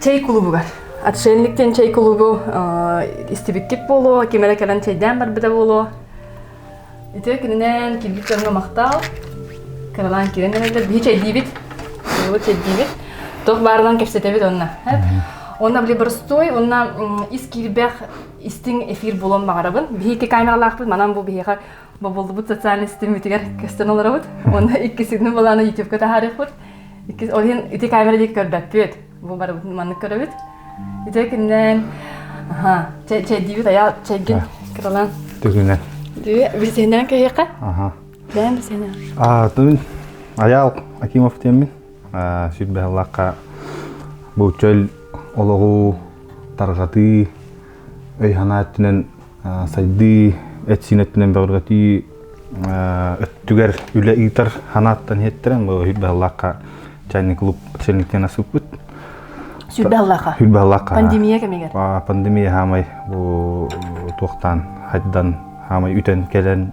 чэй кулубугар отшельник диэн чэй кулубу истибиттик буолуо ким эрэ кэлэн чэйдээн барбыта буолуо ити күнүнэн кирбит дьоҥҥо махтаал кыралаан кирэн эрэллэр биһи чэйдиибит буолу чэйдиибит туох баарынан кэпсэтэбит онно онно били боростуой онно ис кирбэх истиҥ эфир булан баҕарабын биһи ити камералаахпыт манан бу биһиэхэ бобуллубут социальнай ситиммитигэр көстөн олоробут. Уонна иккисini балааны YouTube-ка таһаарыахпыт. Иккис ол иһин ити камера диэки көрбөппүт. Бу барыбыт маннык көрөбүт. Ити кининэн аха, чэйдиибит айаа чэйгин кыралан. Түгүнэн. Дүү, бисинэн кэһиэхэ. Аха. Бэйэн бисинэн. А, тумин Аял Акимов тиэммин. Сүрбэһаллахха бу чөл олоҕу тарҕатыы өй-санаа өттүнэн сайдыы, эт-сиин өттүнэн бөҕөргөтүү өттүгэр үлэ ыытар санааттан иһиттэрэн бу Үрбэһаллаахха чайный клуб сэлниктен асыппыт. Сүрбэһаллаахха. Сүрбэһаллаахха. Пандемия кэмигэр. Пандемия хаамай бу туохтаан хайдан хаамай үтэн кэлэн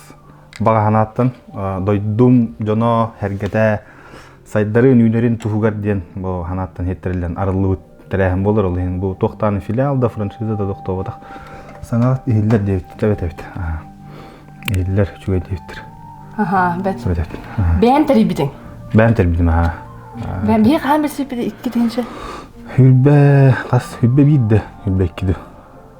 баҕа санааттан дойдум дьоно сэргэтэ сайдарын үүнэрин туһугар диэн бу санааттан хиттэриллэн арыллыбыт тэрээһин болар ол иһин бу туохтаан филиал да франшиза да тохтобатах санаат иһиллэр диэбит эбит эбит иһиллэр үчүгэй диэбиттэр аха бэт бэйэн тэрийбитиң бэйэн тэрбитим аха бэйэн биһи хаһан билсиппит икки тиһинче хүрбэ хас хүрбэ биирде хүрбэ иккиде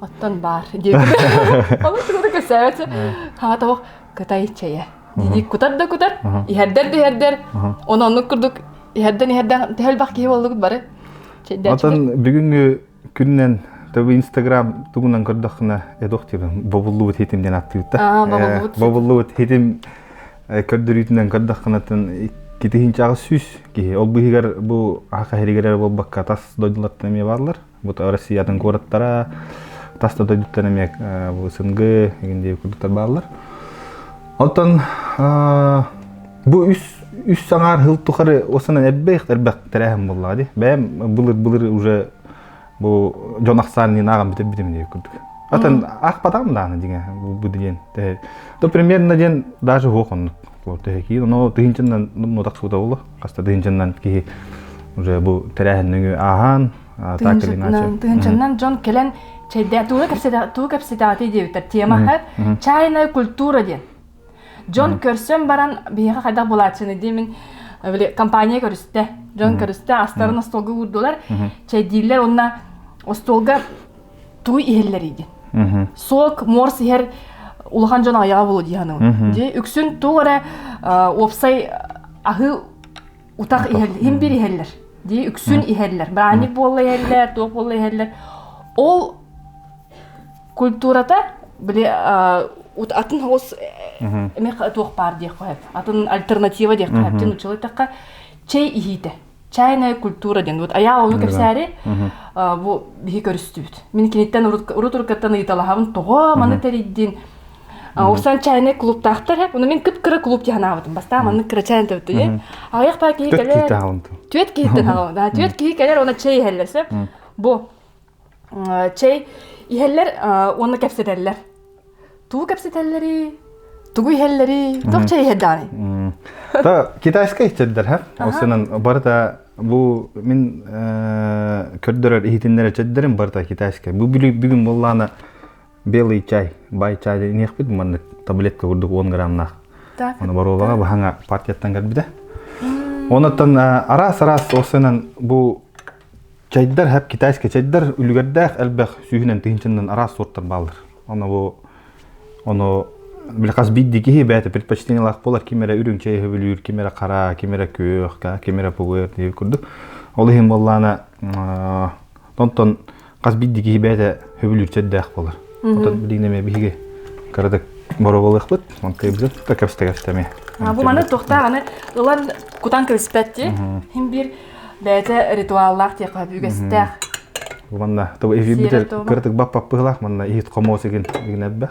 оттон баар диэн ону чугуна көрсөөт хаа тоҕо кытай чэйэ диник кутар да кутар иһэрдэр да иһэрдэр оны оннук курдук иһэрдэн иһэрдэн төһөл бах киһи боллугут бары отон бүгүнгү күннен Тобы Инстаграм тугунан көрдөххүнэ эдох тирин бобуллубут хитим ден аттыыта. Бобуллубут хитим көрдөрүүтүнэн көрдөххүнэтин китихинчағы сүйс киһи ол быһыгар бу аха херигерер болбакка тас дойдулардан эмиэ бааллар Вот Россиятын куораттара тас да дойдуттан эмиэ бу сынгы эгиндиэби курдуктар бааллар. Оттон бу үс үс саҥаар хыл тухары осынан эрбэх эрбэх тирээһин буллаҕа ди. Бэйэм былыр былыр уже бу дьон ахсаан диэн ааҕан бүтэр битим диye курдук. Атын ах потам да аны диңе бу диген. То примерно диен даже хох оннук. Киин оно тыһынчынна ну так суда було. хаста да инженнан киһи уже бу тэрээһиннэги ааһан тыһынчаннан дьон кэлэн чэйдэ тугу кэпсэтээти диэбиттэр тема чайная культура диэн дьон көрсөн баран биһиэхэ хайдах булааччыны диэмин компания көрүстэ дьон көрүстэ астарын остуолга уурдулар чэйдииллэр онно остуолга тугуй иһэллэрийдин солк морс иһэр улахан дьон айаҕа буолуо дии саныыбын дии үксүн туох эрэ уопсай аһы утах иһэллэр бир иһэллэр дии үксүн иһэллэр браник буолла иһэллэр туох буолла иһэллэр ол культурата били атын хос эме туох баар диэх атын альтернатива диэх нучила тахха чэй иһиитэ чайная культура диэн вот Аял ойуу кэпсээри бу биһи көрүстүбүт. Мин киниттэн урут уруккаттан ыйыталаһабын тоҕо маны тэрийдин Урсан чайный клубтаахтар оны мен кып кыра клуб диһан аабытым бастаа маннык кыра чайын төбөттү аҕыйах паа киһи кэлэр түөт киһиттен аҕа да түөт киһи кэлэр оны чэй иһэллэр сөп бу чэй иһэллэр уонна кэпсэтэллэр. Тугу кэпсэтэллэрий? Тугу иһэллэрий? Туох чэй иһэ даҕаны? То китайскай иһтирдэр ха. Осынан барыта бу мин көрдөрөр иһитиннер чеддерим барыта китайскай. Бу бүгүн боллаана белый чай, бай чай инехпит маннык таблетка курдук 10 граммнаах. Оны баруолаға бахаңа партияттан келбиде. Онуттан арас-арас осынан бу чайдар хап китайский чайдар үлүгэрдээх элбэх сүүһүнэн тыһынчыннан араас сорттар бааллар ону бу ону били хас биирди киһи бэйэтэ предпочтениялаах буолар ким эрэ үрүҥ чэй өһүбүлүүр ким эрэ хара ким эрэ күөх ким эрэ пугуер диир курдук ол иһин буоллаана онтон хас биирдии киһи бэйэтэ сөбүлүүрчэ эрдээх буолар. Оттон билигин эмиэ биһиги кыратык бороболыахпыт, онтуйбуту тута кэпсэтэ эмиэ. Бу маны тохтаах аны ылан кутан кэбиспэт ти. Хин бир бэйэтэ ритуаллаах тиэхэ үгэстээх. Манна то эфир битер кыратык баппаппыылаах манна иһит хомоос игин игинэббэх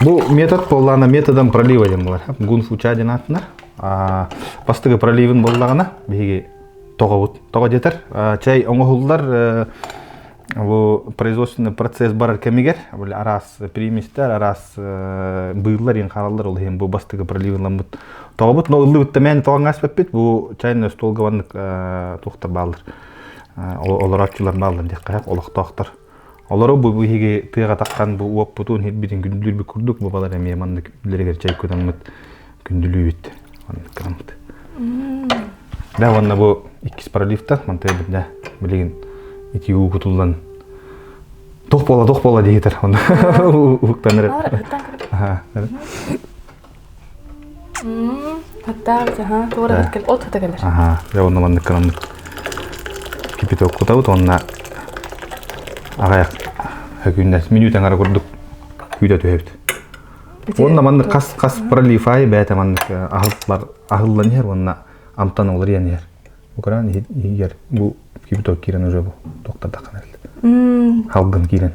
Бу метод буоллаҕына методом пролива диэн буолар. Гун фуча диэн аатынар. Бастыгы проливын буоллаҕына биһиги тоҕобут. Тоҕо диэтэр чай оҥоһуллар бу производственный процесс барар кэмигэр араас приместер, араас быыллар иин хаалаллар ол иһин бу бастыгы проливынламмыт тоҕобут. Но ыллыбыт тэмээн тоҕаҥ аспыппыт бу чайный остуолгабаннык туохтар бааллар олорооччулар бааллар диэххэ олохтоохтор Олору бу биһиги тыах атахтан бу уоппутун хипбитин күндүлүүрбүт курдук бу балар эмиэ маннык үллэригэр чэй кутаммыт күндүлүүбүт маннык кыраммыт да уонна бу иккис пролифтар мантай да билигин ити уу кутуллан тух бола тух бола диһитер уктаныр Хаттаах аһаа туора бэрт кэл. От хата кэлэр. Аһаа. Дьэ онно маннык кынан кипитоккутабыт уонна аҕай хөкүннэс мүнүүт аңара курдук күүтэ түһэбит. Уонна маннык хас хас пролифай бэйэтэ маннык аһыл бар аһыллан иһэр уонна амтан олор иэн иһэр. Укран иһигэр бу кипиток киирэн уже бу токтардакан элт. Халгын киирен.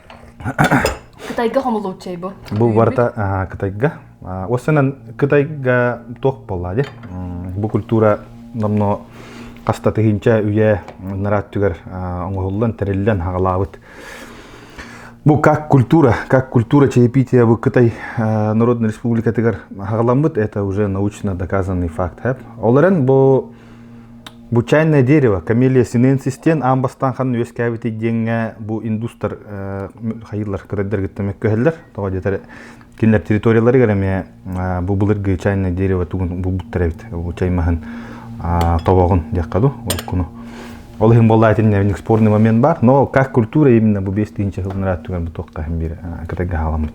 Кытайга хомулуучча бу. Бу барыта Кытайга. Осынан Кытайга туох болла де? Бу культура намно хаста тыһынча үйэ нарат түгэр оңоһуллан тэриллэн хагалаабыт. Бу как культура, как культура чаепития в Кытай Народной Республикатыгар хагаламмыт, это уже научно доказанный факт. Олорен бу Бу чайное дерево, камелия синенсис диэн аан бастаан ханна үөскээбитий диэҥҥэ бу индустар хайыылар көрөрдөргүттэн мөккүһэллэр. Тоҕо диэтэр кинилэр территорияларыгар эмиэ бу былыргы чайное дерево тугун булбуттар эбит. Бу чай маһын тобоҕун диэххэ дуу, уруккуну. Ол иһин буолла этиннэбинник спорный момент бар, но как культура именно бу бес тыынча хылынраат түгэн бу тоққа бир кытайга халаммыт.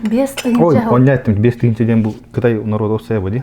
Бес тыынча. Ой, оння эттим бес тыынча диэн бу Кытай народовсая бу ди.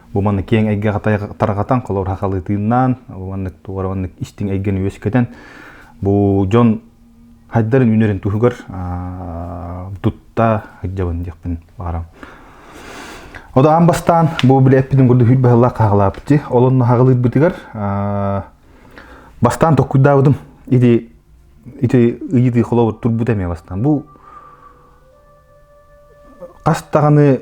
Бу маннык киэҥ эйгэ тарҕатан, холор хахалытыыннаан, маннык туора маннык истиҥ эйгэни үөскэтэн, бу дьон хайдарын үнэрин туһугар тутта сылдьабын диэхпин баҕарам. Ода аан бастаан бу билэ эппитин курдук үл баһылаах хаһалаапти. Олон хагалыырбытыгар бастаан токкуйдаабытым. Ити ити ыйытыы холобур турбут эме бастан. Бу хас даҕаны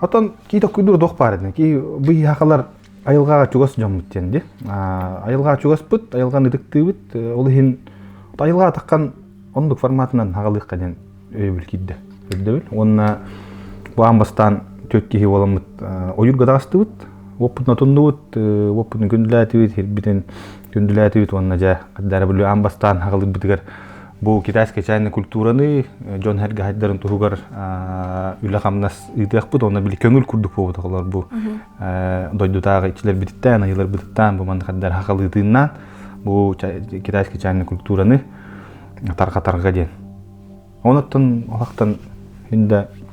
Отон киитоккуйдуур дуох баар этин ки быйхахалар айылгаага чугас дьоммут диэн ди айылгаага чугаспыт айылганы ытыктыыбыт ол иһин айылгаа атаккан оннук форматынан хагалыахха диэн өйөбүл киирдэ үрдэбил уонна бу аан бастаан түөт киһи боламмыт ойуурга даастыбыт уоппутун отуннубут уоппутун күндүлээтибит хирбитин күндүлээтибит уонна дьэ дары бүлүү аан бастаан хагалык битигэр Бу китайская чайная культураны дьон хэргэхайдарын туһугар үлэ-хамнас ыытыахпыт онно били көҥүл курдук буолбуталар бу дойдутааҕы иччилэрбититтэн айыларбытыттан бу манныхаддар хахалыытыыннаан бу китайская чайная культураны тарҕатарга диэн оноттон олахтан хүндэ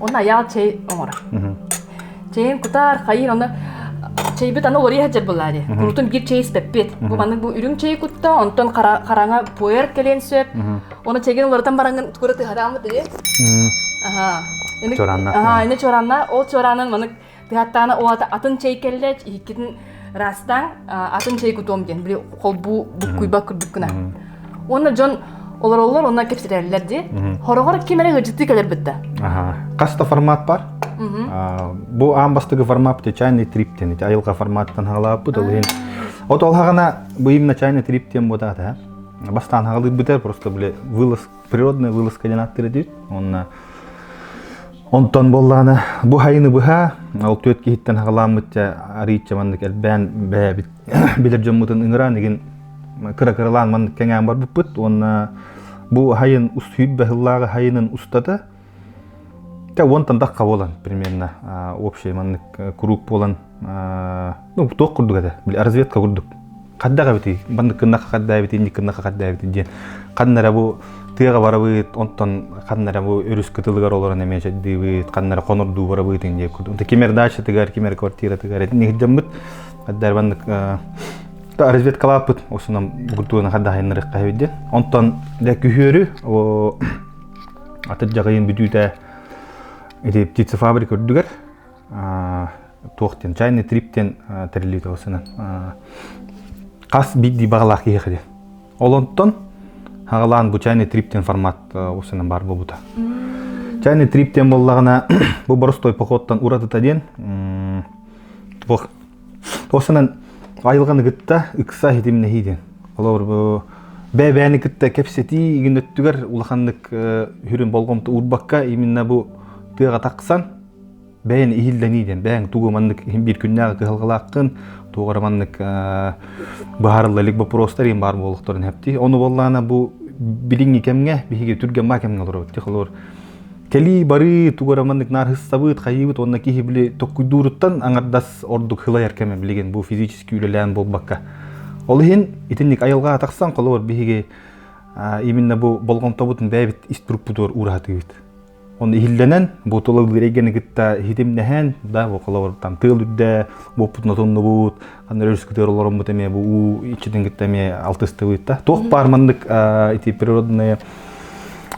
Онно айаал чэй оҥоро. Чэйин кутаар, хайыыр, оны чэйбит аны уларыйа сылдьар былаары. Курутун биир чэй испэппит. Бу маннык бу үрүҥ чэй кутта, онтон хараҥа пуэр кэлиэн сөп. Оны чэгин уларытан бараҥын кура тыһарааммыт дири. Аха. Чоранна. Аха, ини чоранна. Ол чораанын маннык Тыһаттаана оҕата атын чэй кэллэ, иһиккитин ырастаҥ, атын чэй кутуом диэн, били холбуу буккуйбат курдук гына. Уонна дьон олороллор, онно кэпсэтэллэр дии. Хороҕор ким эрэ ыһырдьытыы кэлэрбит да. Хас да формат бар? Бу аан бастыгы формат чайный триптен. Айылҕа форматтан хаалааппыт ол иһин. От олхаҕана быйым начальный триптен буотаата. Бастаан хаалыйбыта просто били вылаз природная вылазка диэн ааттыыр этибит уонна онтон буоллаҕына бу хайыны быһа ол түөрт киһиттэн хаҕаламмыт арыычча маннык элбээн бэйэбит билэр дьоммутун ыҥыран игин кыра кыралаан маннык кэҥээн барбыппыт уонна бу хайын устуйб баһыллааҕы хайынын устата Кэ уонтан дахка буолан примерно общий маннык куруук буолан ну туох курдук этэ били разведка курдук хаддаҕа эбитий маннык кыннахха харддаабитий инник кыннахха харддаабитий диэн ханна эрэ бу тыаҕа барабыт онтон ханна эрэ бу өрүс кытылыгар олорон эмиэ чэйдиибит ханна эрэ хонордуу барабыт иҥ диэк курдук кимер дачатыгар кимер квартиратыгар нигдеммит харддаабаннык разведкалааппыт осунам бугуртугана хардахайыннарыхха эбит диэн онтон дэ күһүөрү Атыр дьаҕайын бүтүүтэ ити птицефабрика үрдүгэр туох диэн чайный трип диэн тэриллибит болсунан хас биирдии баҕалаах киһи edi. Олонтон хаҕалаан бу чайный трип диэн формат осунан бар буолбута. Чайный трип диэн буоллаҕына бу боростой походтан уратыта диэн туох Ол санан айылҕаны кытта ыкса иһитимнэһии диэн. Холобур бу бэбээни кытта кэпсэтии күн өттүгэр улаханнык сүрүн болҕомто уурбакка именно бу тыаҕа тахсан бэйэн иһиллэнии диэн бэйэҥ тугу маннык биир күннээҕи кыһалҕалааххын туох эрэ маннык быһаарылла илик боппуруостар иин баар буолуохтарын хэптии ону буоллаана бу билиҥҥи кэмҥэ биһиги түргэн баа кэмҥэ олоробут холобур кэлии-барыы тугура маннык наархыстабыт хайыыбыт уонна киһи били tokkуйдууруттан аңардас ордук хылайар кэме билигин бу физически үлэлээн буолбакка ол иһин итинник айылҕаҕа тахсан холобур биһиги именно бу болҕомтобутун бэйэбит иструппутугар уураһатыыбыт оны иһиллэнэн бу тула ыйганы кытта хитимнэһэн да бу холобур там тыал үрдэ буоппутун отуннубут Аны өрүскүтөр олороммут эмиэ бу уу иччитин кытта эмиэ алтыстыбыта. Туох баар маннык ити природные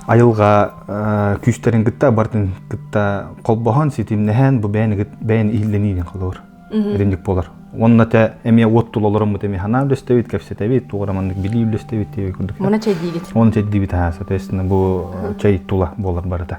айылга күүстэрин кытта бартын кытта холбоһон ситимнэһэн бу бэйэн бэйэн иһиллэниинин холоор эденник болар онна те эмиэ уот тулаларыммыт эми ханаа үлөстэбит кепсетебит туораманнык билии үлөстэбит тиви курдук оны чэйдиибит оны чэйдиибит хаа соответственно бу чэй тула болар барыта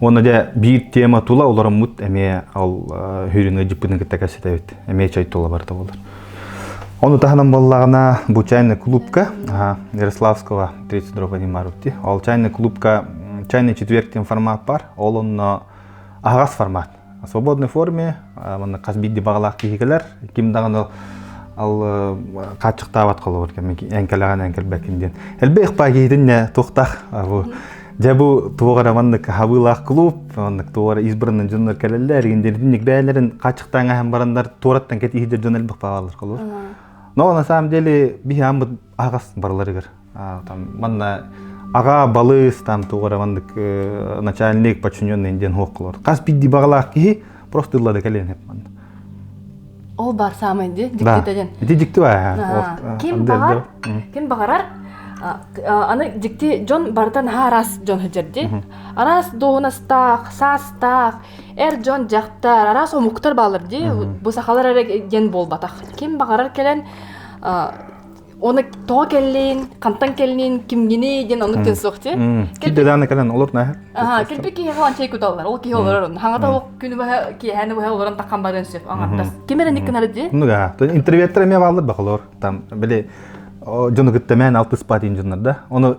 Уонна дьэ биир тема тула олороммут эмиэ ол хүрүнү дьиппытын кытта кэситэбит. Эмиэ чай тула барыта болар. Оны таханан боллагана бу чайный клубка Ярославского 32 поднимарути. Ол чайный клубка чайный четверг формат бар. Ол онно ағас формат. в свободной форме манна хас биирдии баҕалаах киһикилэр ким даҕаны ал хааччыктаабат холобур эҥкэлэҕин эҥкэлбэккин диэн элбэх ыкпаа киһитинне туохтаах дьэ бу туох эрэ маннык хабыылаах клуб маннык туох эрэ избранный дьоннор кэлэллэр индирдинник бэйэлэрин хааччыктаан ааһан бараннар туораттан кэт иһдэр дьон элбэх баалар холобур но на самом деле биһи аамбыт аһаҕас барыларыгар манна аҕа балыс там тугара маннык начальник подчиненный диэн хуоккалар хас бидди баҕалаах киһи просто ыллада кэлен хеп манна ол бар самый ди диктитеден ди дикти баа ким баҕар ким баҕарар аны дикти дьон барытан хаарас дьон хыжерди арас дохунастаах саастаах эр дьон дьахтар арас омуктар баалар ди бу сахалар эрэ диэн буолбатах ким баҕарар кэлэн оны тоҕо кэллин хантан кэллин кимгиний диэн оннук диэн суох тий кэлбит дааны кэлэн олор наһа аха кэлбит киһи falan чэй куталлар ол киһи олорор хаҥата ол күнү быһа киэһэни быһа олорон таххан барыан сөп аҥардас ким эрэ никкынары дии оннуга интервьюттар эмиэ бааллар бахалор там били дьону кыттамээн алтыспаат дьоннор да ону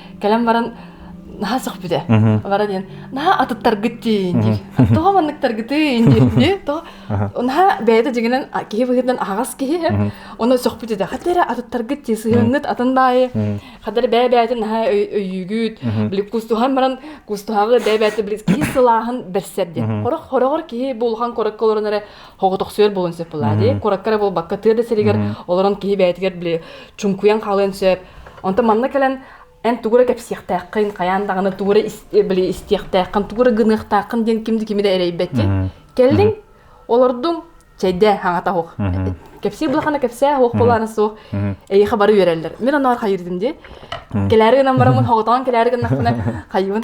кэлэн баран наһаа сөхпүтэ бара диэн наһаа атыттаргыт диин диир тоҕо манныктаргытыын диир дии тоҕо наһаа бэйэтэ дьиҥинэн киһи быһыытынан аһаҕас киһи ону сөхпүт этэ хата эрэ атыттаргыт дии сыһыаҥҥыт атын баайы хата эрэ бэйэ бэйэтин наһаа өйүүгүт били кустуһан баран кустуһаҕы бэйэ бэйэтэ били киһи сылааһын бэрсэр диэн хороҕор киһи буулухан корокка олорон эрэ Хоҕотохсуйар буолан сөп былаады. Куораккара буолбакка тыа да сиригэр олорон киһи бэйэтигэр били чуҥкуйан хаалыан сөп. Онтон манна кэлэн эн тугура кэпсиэхтээххин, хайаан даҕаны тугура били истиэхтээххин, тугура гыныахтааххын диэн ким да кими да эрэйбэти. Кэллиҥ, олордуҥ, чэйдээ хаҥата оһох. Кэпсиир былахана кэпсээ оһох болаана суох. Эйиэхэ бары үөрэллэр. Мин оноор хайырдым дии. Кэлээри гынан бараммын, хоҕотоон кэлээри гыннахпына хайыыбын.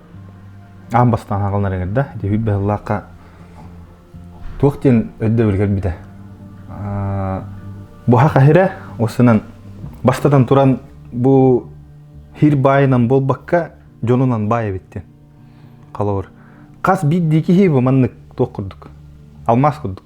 аан бастаан хаалан эргэрдэ ити бүппэ сыллаахха туох диэн өйдөбүл кэлбитэ буһа хаһирэ осынан бастатан туран бу хир баайынан буолбакка дьонунан баай эбиттин халабыр хас биирдии киһи бу маннык туох курдук алмаас курдук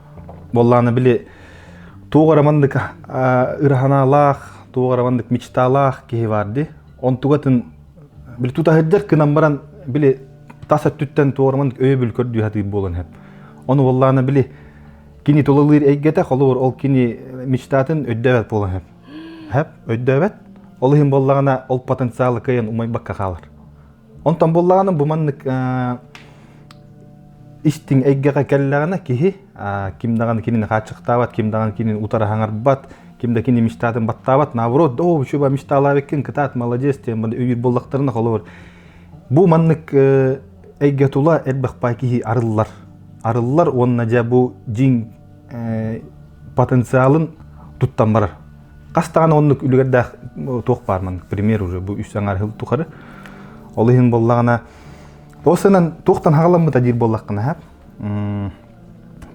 Боллааны били туох эрэ маннык ыраһанаалаах, туох эрэ маннык мечталаах киһи баар ди. Онтугатын били тутаһырдар кынан баран били тас өттүттэн туох эрэ маннык өйөбүл көрдүү хатыыр буолан хэп. Ону боллааны били кини тулалыыр эйгэтэ холобур ол кини мечтатын өйдөөбөт буолан хэп. Хэп өйдөөбөт. Ол иһин боллаана ол потенциалы кыйын умайбакка хаалар. Онтон буллаҕына бу маннык истиҥ эйгэҕэ кэллэҕинэ киһи ким даҕаны кинини хааччахтаабат, ким даҕаны кинини утары хаҥарбат, ким да кини мечтатын баттаабат. Наоборот, да оо, чуба мечталаабыккын, кытаат, молодец, тем үбүр буоллахтарына холобур. Бу маннык эйгэ тула элбэх бай киһи арыллар. Арыллар уонна дьэ бу дьиҥ потенциалын туттан барар. Хас даҕаны оннук үлүгэрдээх туох баар ман пример уже бу үс саҥар хыл тухары. Ол иһин боллаҕына ол сынан туохтан хагаламмыта диир боллаххына хап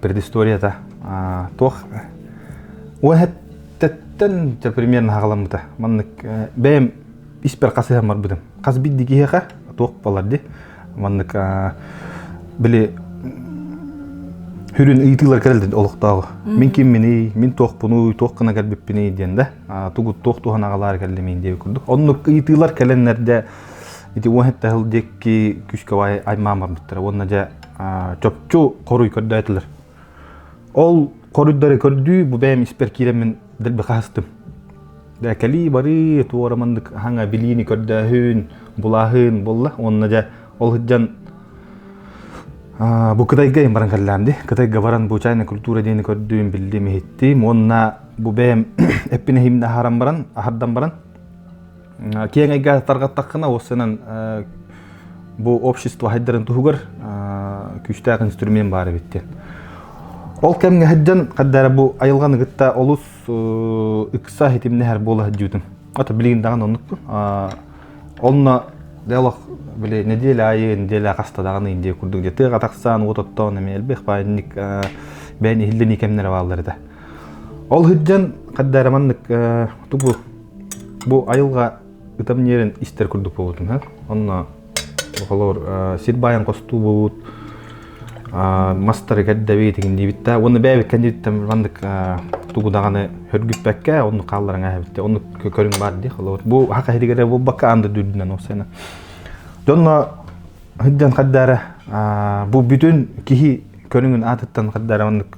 предысторията туох уэһэттен примерно хагаламмыта маннык бэйэм испер хасыһан барбытым хас бидди киһиэхэ туох болар ди Маннык били сүрүн ыйытыылар кэлэллин олохтооҕу. Мин кимминий, мин туохпунуй, туох гына кэлбиппиний диэн да тугут туох туһан аҕалар кэллимин диэби курдук. Оннук ыйытыылар кэлэннэрдэ ити уонетта хыл диэки күскэ аймаамарбыттара уонна дьэ чопчу хоруй көрдөөтүлэр. Ол хоруйдары көрдүү бу бэйэм испэр киирэммин дэлби хаһыстым. Да кали бары туора маннык хаҥа билиини көрдөөһүн, булааһын булла уонна дьэ ол сыдьан бу Кытайга им баран каллаамди. Кытайга баран бу чайна культура диэни көрдүүм, биллим, иһиттим. Уонна бу бэйэм эппинэһимне аһаран баран, аһардан баран киэҥ эйгэ тарҕаттаххына ол сынан бу общество хайдарын туһугар күүстээх инструмент баар эбит диэн ол кэмҥэ сылдьан хаддара бу айылҕаны кытта олус ыкса хитимнэһэр буола сылдьыбытым ото билигин даҕаны оннукпун онно делах били неделя айы неделя хаста даҕаны индия курдук дьэ тыаға тахсаан уот оттоон эмиэ элбэх баанньык бээн иһиллэний кэмнэрэ бааллар этэ ол сылдьан хаддара маннык тугу Бу айылҕа ытам ньиэрин истэр курдук буолбутум иһэ. Онно холор сир баайын хостуубут, мастары кэрдэбит итиҥниибит да уонна бэйэбит кэнниттэн маннык тугу даҕаны хөргүппэккэ онну хаалларан эһэбиттэ онну көрүҥ баар дии холобур бу хаха иһигэр буолбакка анда дүүрдүнэн уопсайна дьонно сылдьан хаддаара бу бүтүн киһи көрүҥүн аатыттан хаддаара маннык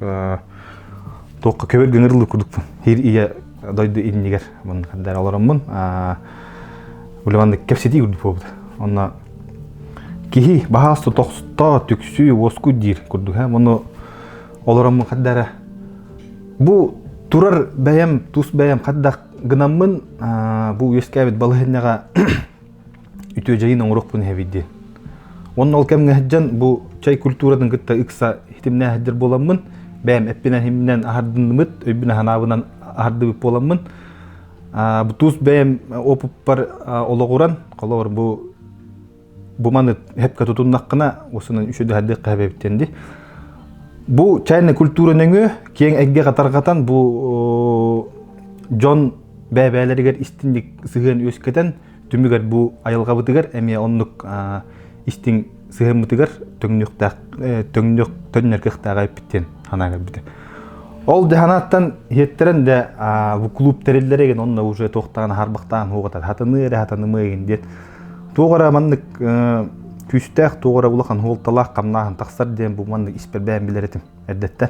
туохха көбөр гыҥырылы курдук хир ийэ дойду иннигэр мындыгар олороммун улеманнык кэпсэтии курдук буолбута онно киһи баһаас тотохсто түксүү уоскуй диир курдук ону олороммун хаддара бу турар бэйэм тус бэйэм хаддах гынаммын бу үөскээбит балаһынньаҕа үтүөдьэйин оҥорохпун иһэбит диэн уонна ол кэмҥэ сылдьан бу чай культуратын кытта ыкса хитимнээх сылдьар буоламмын бэйэм эппинэһиминэн аһардыннымыт өйбүн санаабынан аһардыбыт буоламмын бутуус бэйэм опыппар олоҕуран холобур бу бу маны хэпкэ тутуннаххына осунан үчү дэһэрдик кэһэбэбиттэн ди бу чайная культура нөҥүө киэҥ эйгэ катарҕатан бу дьон бэбээлэригэр истинник сыһыан үөскэтэн түмүгэр бу айылҕабытыгар эмиэ оннук истиҥ сыһыммытыгар төҥнүөхтээх төҥнүөх төннөркөхтээҕи эппиттиэн санаа көрбүтэ ол дьаһанааттан хиэттэрэн да бу клуб тэриллэрэ гин онно уже туохтаан харбахтаан хуоҕатар хатаныы эрэ хатанымыа гин диэт туох ара маннык күүстээх туох ара улахан хуолталаах хамнаахын тахсар диэн бу маннык испэрбээн билэр этим эрдэттэн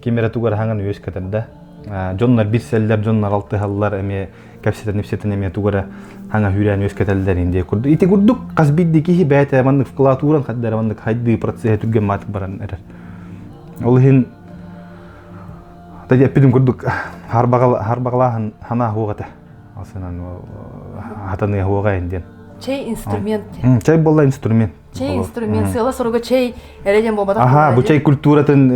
ким эрэ тугу эрэ хаҥан үөс көтөрдө дьоннор билсэллэр дьоннор алтыһаллар эмиэ кэпсэтэн эмиэ тугу эрэ хаҥа үүрээн үөскэтэллэр индиэ курдук ити курдук хас биирдии киһи бэйэтэ маннык вкладуран хаддара маннык хайдыы процесса түргэн маатык баран эрэр ол иһин эппитим курдук харбаҕалааһын ханаа хуох этэ ол сынан хатаныа хуоҕа ин диэн чэй инструмент чэй буолла инструмент чэй инструмент сыала-соруга чэй эрэ диэн буолбатах аха бу чэй культуратын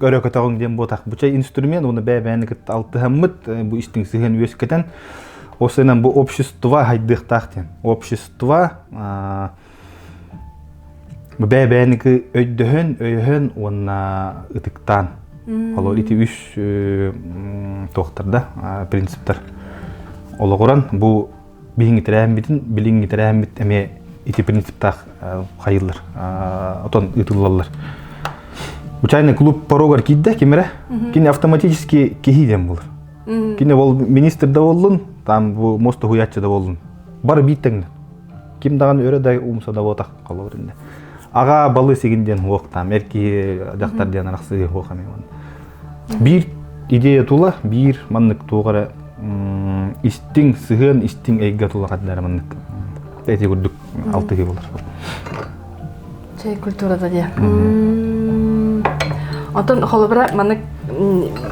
өрө көтөҕүҥ диэн буотах бу чэй инструмент уну бэбэни кытта алтыһаммыт бу истиҥ сыһыан үөскэтэн осынан бу общество хайдыахтаах диэн общество бэбэники өйдөһөн өйөһөн уонна ытыктаан олор ити үс туохтарда принциптар олоҕуран бу билиҥҥи тэрээһиммитин билиҥҥи тэрээһиммит эмиэ ити принциптаах хайыллар отон ыытыллаллар Учайный клуб порогар киирдэ кимре кини автоматический киһи диэн болар кини ол министр да боллун там бу мосто хуяччы да боллун бары бииттеңден ким даган өрө да умса да ботах холобур инде агаа балыс игин диэн уох там эр киһи дьахтар диэн арахсыы уох эми биир идея тула биир маннык туох эрэ истиҥ сыһыан истиҥ эйгэ тула хаддары маннык эти курдук алтыһы болар чэй культурата диэн Отон холобура манык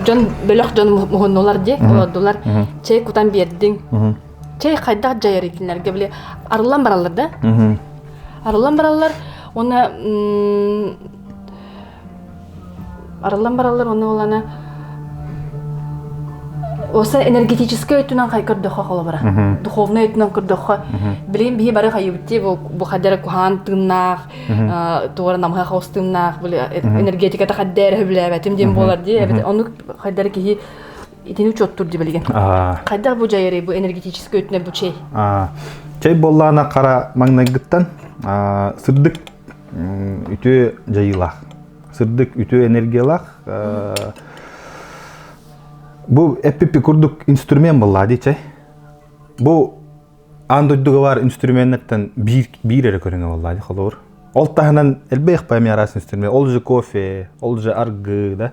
дьон бөлөх дьон муһуннулар ди олордулар чэй кутан бердиң чай хайдах дьайар итиннэргэ били арыллан бараллар да арыллан бараллар уонна арыллан бараллар уонна улана осы энергетический өттүнэн хай көрдөххө холобура духовный өттүнэн көрдөххө билин бии бары хайыбытти бу хаддара куһаан тыыннаах туора намыһа хаус тыыннаах энергетиката хаддары хүбүлээбэтим диэн буолар дии оннук хайдары киһи Итини учуоттуур дибилигин. Хайдах бу дьайары бу энергетический өттүнэн бу чэй? Чэй боллаана қара маңнайгыттан сырдык үтүө дьайыылаах. Сырдык үтүө энергиялаах. Бу эппипи курдук инструмент болла ди чай. Бу аан дойдуга бар инструменттен биир биир эрэ көрүнө болла ди холобур. Ол таһынан элбэх памиарас инструмент, ол же кофе, ол же аргы да.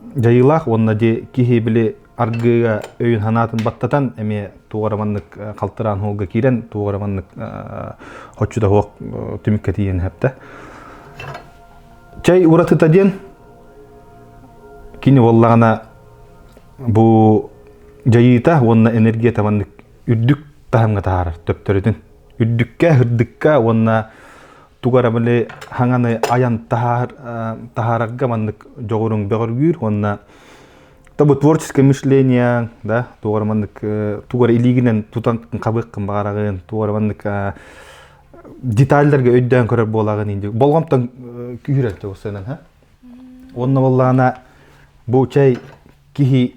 дьайыылаах уонна дии киһи били аргыыга өйүн-санаатын баттатан эмиэ туох эрэ маннык халтыраан уһуга киирэн туох эрэ маннык оччу да суох түмүккэ тиийэн эһэптэ чэй уратыта диэн кини уоллаҕана бу дьайыыта уонна энергия табаннык үрдүк таһымҥа таһаарар төптөрүтүн үрдүккэ үрдүккэ уонна тугу эрэ били хаҥаны айан таһаар таһаарарга маннык дьоҕуруҥ бөҕөргүүр уонна тобу творческое мышление да тугар маннык тугар илиигинен тутан хабыыккын баҕараҕын тугар маннык детальлерге өйдөөн көрөр буолагын инди болҕомтон күүрэр тоғысынан ха онно боллаана бу чай киһи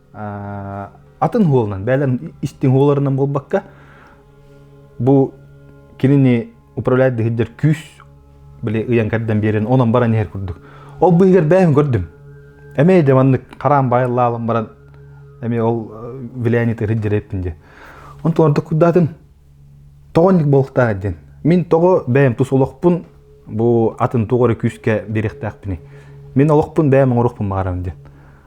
атын уолунан бээлэн истиҥ уолларынан буолбакка бу кинини управляет дыһыддер күүс били ыйан кэрдэн биэрэн онон баран иһэр курдук ол быыгар бэйэм көрдүм эмээ де маннык хараан байыллаалан баран эми ол влиянит ырыддерэппин дje онтон ордук курдаатым тоҕонник болуктаа диэн мин тоҕо бэйэм тус олохпун бу атын тугары күүскэ берехтаахпыны мин олохпун бэйэм оңорохпун баарам диэн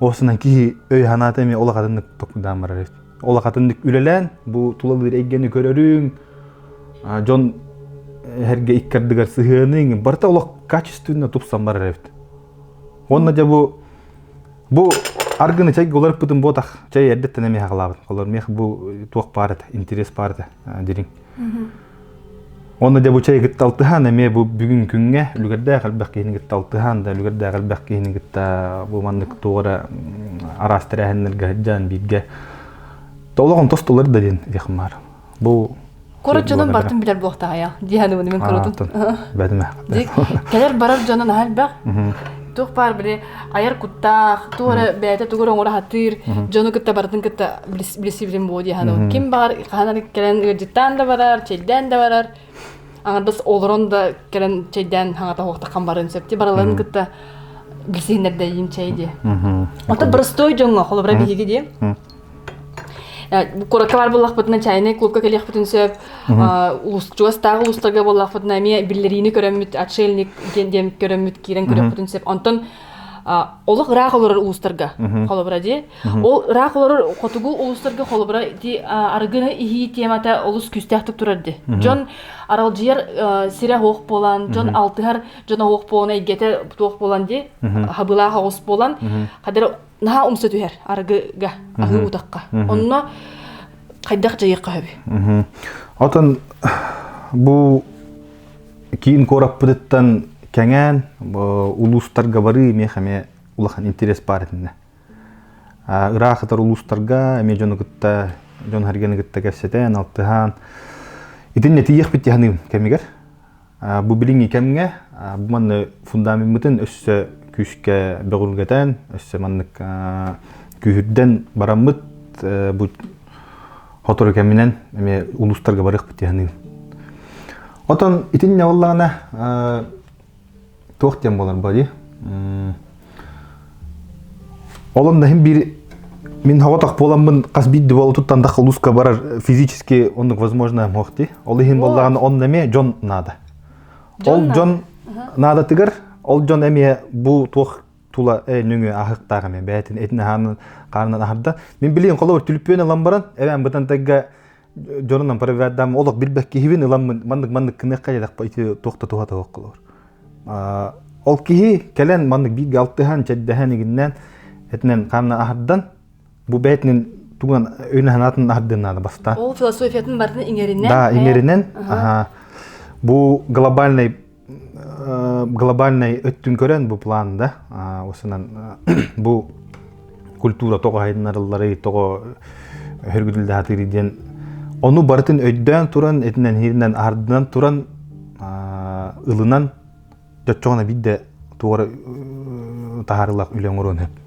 осынан киһи өй-санаата эмиэ ол акатыннык токуйдаан барар эбит ол акатыннык үлэлээн бу тулалыыр эйгэни көрөрүҥ дьон эргэ икки ардыгар сыһыаныҥ барыта олох качественна тупсан барар эбит уонна дьэ бу бу аргыны чайга уларыппытым буотах чай эрдэттэн эмиэ хахалаабыт холор мех бу туох баар этэ интерес баар этэ дириҥ Онно дьабычай кытта алтыһаан эмиэ бу бүгүн күҥҥэ үлүгэрдээх элбэх киһини кытта алтыһаан да үлүгэрдээх элбэх киһини кытта бу маннык туора араас тэрээһиннэргэ сылдьан бииргэ толоҕун тостулар да диэн диэх баар. Бу Курут дьонун бартын билэр буохтаҕайа диэханыбын мен курутун бәдімэ кэлэр барар дьонун аһа элбэх тух паар били айар куттаах, тугу эрэ бэйэтэ тугу эрэ оҥоро сатыыр, дьону кытта барытын кытта билсибитим буолуо дии санаабын. Ким баҕар хаһан кэлэн ыалдьыттаан да барар, чэйдээн да барар, аҥардас олорон да кэлэн чэйдээн хаҥата суохтаххан барыан сөп дии барыларын кытта билсиһиннэрдэйиим чэй дии. Оттон простой дьоҥҥо холобура биһиги дии куоракка баар буллахпытына чайнай клубка кэлиэхпитин сөп чугастааҕы улуустарга буллахпытына эмиэ биллэриини көрөммүт отшельник диэн диэн көрөммүт киирэн көрүөхпүтүн сөп онтон олох ыраах олорор улуустарга холобура дии ол ыраах олорор хотугу улуустарга холобура дии арыгыны иһии темата олус күүстээхтик турар дии дьон аралдьыйар сирэ оһох буолан дьон алтыһар дьон оһох буолан эйгэтэ туох буолан дии хабылаах оҕус буолан хадэр наһаа умса түһэр арыгыга аһыы утахха онно хайдах дьайыахха сөбүй отон бу киин куораппытыттан кэҥээн улуустарга барыы эмиэх эмиэ улахан интерес баар этиннэ ыраах атар улуустарга эмиэ дьону кытта дьон харганы кытта кэпсэтэн алтыһаан итиннэ тиийэхпит тиһаныым кэмигэр Бу билиҥҥи кэмҥэ бу манна фундамеммытын өссө күүскэ бөҕүлгэтэн, өссө маннык күүһүрдэн бараммыт бу сотору кэминэн эмиэ улуустарга барыахпыт диэхниин. Отон итиннэ ыллаҕына туох диэн буоларба дии олон наһын бир мин хоҕотох буоламмын хас биирди бол тутан даха улуска барар физически оннук возможно мохти ол иһин боллаган он эме жон наада ол жон наадатыгар ол жон эме бу туох тула э нүңү ахыктаараме бээтин этин ахаанын хаарынан ахарда мин билиин холобур түлүппүөн ылан баран эбэн бытан тагга дьонунан проведдам олох билбэк киһибин ыламмын маннык маннык кыныахха дедахпа ити туох да туһа туһах кылыр ол киһи кэлэн маннык бииргэ алтыһан чэддэһэн игиннен этинен ханна аһардан бу бэйтинин тугунан өйүнэ санаатын аһардын наада бастан ол философиятын бартын иҥеринен да иҥеринен аха бу глобальный глобальнай өттүн көрөн бу план да осынан бу культура тоҕо хайыннарыллары тоҕо хөргүтүлдэхатыыр диэн ону барытын өйдөөн туран этинэн хиринэн ардынан туран ылынан жоччоҕуна бидде туора таһарылах үлэ оҥоруон сөп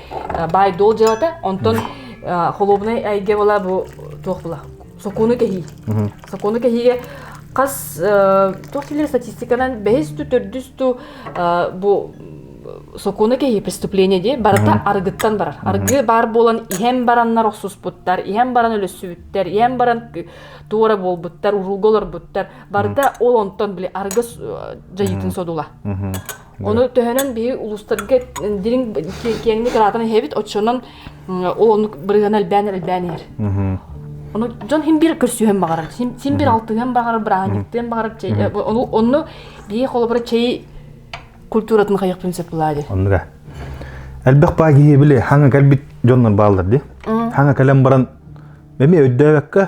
баай-дуол дьыалата, онтон холуобунай эйгэ була бу туох була? Сокуону кэһии. Сокуону кэһиигэ хас туох дииллэр статистиканан бэһис ту төрдүс ту бу сокуону кэһии преступление дии барыта арыгыттан барар. Арыгы баар буолан иһэн бараннар охсуспуттар, иһэн баран өлөссүбүттэр, иһэн баран туора буолбуттар, уруулга олорбуттар. Барыта ол онтон били арыгы дьайыытын содула. Ону төһөнөн биһи улуустарга дириҥ киэҥник араатан иһэбит, оччонон ол оннук бырыһыана элбээн элбээн иһэр. Ону дьон син биир көрсүһэн баҕарар, син биир алтыһыан баҕарар, бырааһынньыктыан баҕарар, онну биһи холобура чэй культуратын хайахпын сөп булаа диир. Оннуга. Элбэх баа киһи били хаҥа кэлбит дьоннор бааллар ди. Хаҥа кэлэн баран эми өйдөөбөккө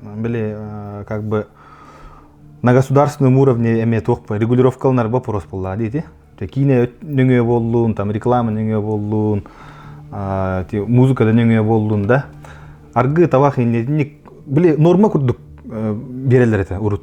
били как бы на государственном уровне эмиэ туох регулировка ылынар боппуруос буллаа диити киинэ нөҥүө буоллун там реклама нөҥүө буоллун музыкада нөҥүө буоллун да аргы табах иннетиник били норма курдук биэрэллэр этэ урут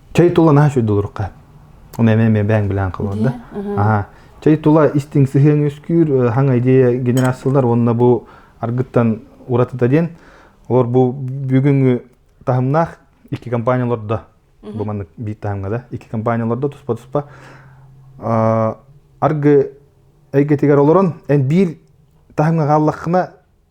чэй тула наһаа сүрдулурукка оны эме эме бэң билен кылында аха чэй тула истиң сыһыаң үскүүр хаҥа идея генерациялар уонна бу аргыттан уратыта диэн олор бу бүгүнгү таһымнаах икки компанияларда бу маннык биир таһымга да икки компанияларда туспа туспа аргы эйгетигер олорон эн биир таһымга хааллаххына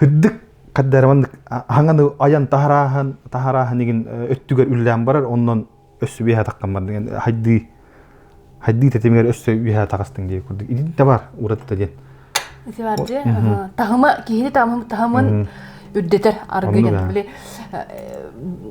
Үрдүк хаддарманнык хаҥаны айан таһарааһын таһарааһын игин өттүгэр үллээн барар оннон өссө биэһэ таххан бардыган хайдыы хайдыы тэтимигэр өссө биэһэ тахастың дии курдук идин табар уратыта диэн Севарди таһыма киһини таһымын үрдетер аргыйдан били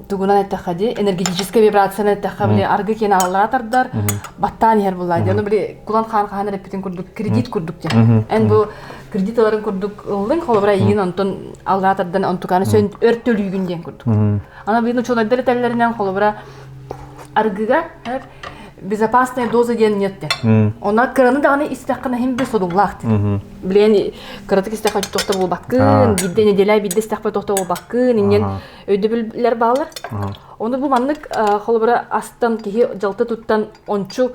тугунан эттэхха ди энергетическая вибрацияны эттэхха били аргы киэн аллара тардар баттаан иһэр булла ди ону били кулан хаар хаһан эппитин курдук кредит курдук ди эн бу кредит ыларын курдук ыллыҥ холобура иҥин онтон аллаа тардан онтукааны сөн өр төлүүгүн диэн курдук ана быйын учуонайдар этэллэринэн холобура аргыга безопасная доза диэн нет онна кыраны даҕаны истэххэ хим би содуллаах билен кыратык истэххэ тохто буолбаккын бирде неделя бирде истэхпе тохто буолбаккын инен өйдөбүллэр баалар оны бу маннык холобура астан киһи жалты туттан ончу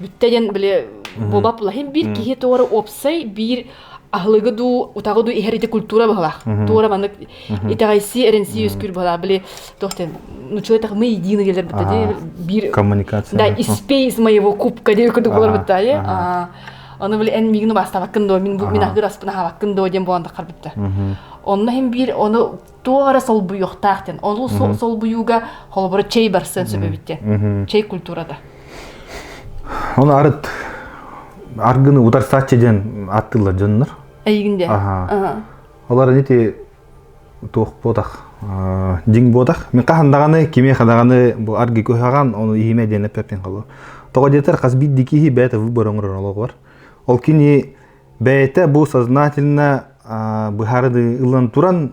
бүттэ диэн били буолбап лаһин биир киһи туора уопсай биир аһылыгы дуу утаҕы дуу иһэр ити культура быһалаах туора маннык итэҕэйсии эрэнсии үскүүр быһалаа били тохтен ну человек мы едины делер биир коммуникация да испей из моего кубка диир курдук болар бытта оны били эн мигину бастабаккын доо мин мин аһыгыр аспын аһабаккын доо диэн буолан таххар бипта онно хим биир оны туох эрэ солбуйуохтаах диэн ол солбуйууга холобура чэй барсыан сөп эбиттиэн чэй культурата оны арыт аргыны утарсааччы диэн аттылар дьоннор эйигин де олар дити туох буотах дин буотах мен хахан даҕаны киме хадаҕаны бу арги көһаҕан оны иһиме диэн эппеппин холо тоҕо диэтэр хас бит дикиһи бэйте выборон олоҕуар ол кини бэйэтэ бу сознательно быһаарыы ылан туран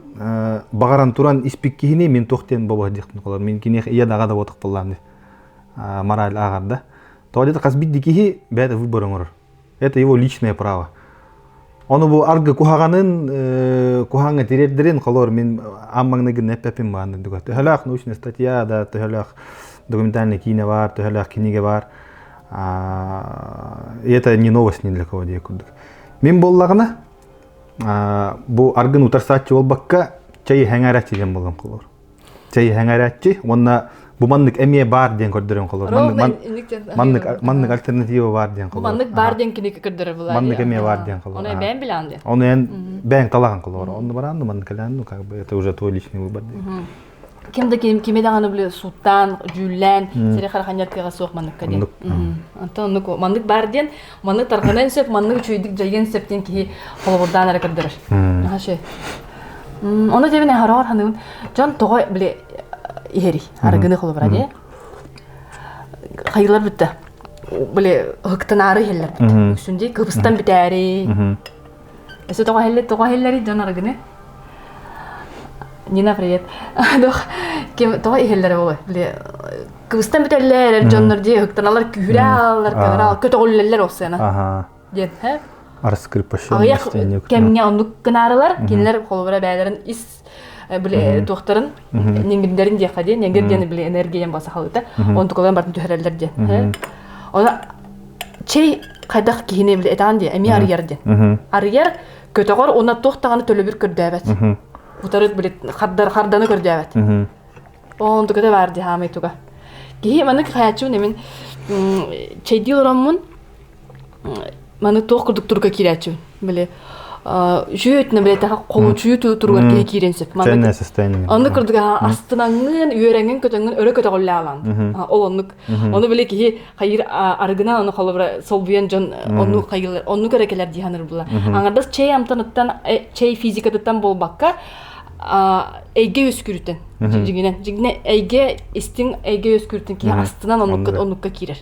баҕаран туран испик киһини мин туох диэн бобо диэхтин холор мин киниэх ийэ даҕа да буотахталлааны мораль аагарда то где-то хас бидди киһи бэйэтэ выбор оңорор это его личное право ону бу аргы куһаҕанын куһаҥа тириэрдэрин холор мин аммагныгын эппепин баанны дуга төһөлөөх научная статья да төһөлөөх документальный киинэ бар төһөлөөх кинигэ бар это не новость ни для кого дия курдук. Мин боллагына бу аргын утарсааччы болбакка чай хаңараччы ден болгон колор. Чай хаңараччы онна бу маннык эмиэ бар диэн көрдөрөн колор. Маннык маннык альтернатива бар диэн колор. Маннык бар диэн киник көрдөрө булар. Маннык эмиэ бар диэн колор. Оны бэйн билан диэн. Оны эн бэйн талаҕан колор. Онну баран маннык калан ну как бы это уже твой личный выбор. ким да кими даҕаны били сууттаан дьүүллээн сири хараханньартыаҕа суох манныкка диэн онтон оннук маннык баар диэн маннык тарҕаныан сөп маннык үчүгэйдик дьайыан сөп диэн киһи холобурдаан эрэ көрдөрөр ону дьэбин хараҕар ханыбын дьон тоҕо били иһэрий арыгыны холобура дии хайылар бүттэ били ыһыктынаары иһэллэр бүттэ үксүн дии кыбыстан бүтээри Өсө тоҕо иһэллэр, тоҕо иһэллэри дьон арыгыны? Нина, привет. Дох, тоҕо иһэллэрэ болой? Кыбыстан бүтэллэр, эр дьоннор дии һыктаналар күүһүрэаллар, көнөрал көтөҕүллэллэр осыана. Диэн, һэ? Арыскырпашы. Аҕыйах кэмҥэ оннук кынаарылар, кинилэр холобура бэйэлэрин ис били туохтарын нингиндерин диэххэ диэн нингир диэн били энергия диэн сахалыыта онтукаларын бартын түһэрэллэр диэн оны чэй хайдах киһини били этаан диэ эмиэ арыйар диэн арыйар көтөҕөр уна туох даҕаны төлөбүр көрдөөбөт утары били хардар харданы көрдөөбөт онтуката баар дии хаамай туга киһи маннык хайаччу немин чэйдии олороммун маны туох курдук туруга киирээччибин били үчүөтүнэ билетаха хоҥучуйуу туругар киһи киирэн сөп ценное состояние аны курдук астынаңҥын үөрэҥҥин көтөҥҥүн өрө көтөҕүллэҕин ол оннук ону били киһи хайыыр арыгынан ону холобура солбуйан дьон ону хайыылар онну көрө кэлэр дии саныыр була аңардас чэй амтаныттан э, чэй физикатыттан буолбакка эйгэ үөскүрүтэн дьигинен дьигине эйгэ истиҥ эйгэ үөскүрүтүн киһи астынан оннукка оннукка киирэр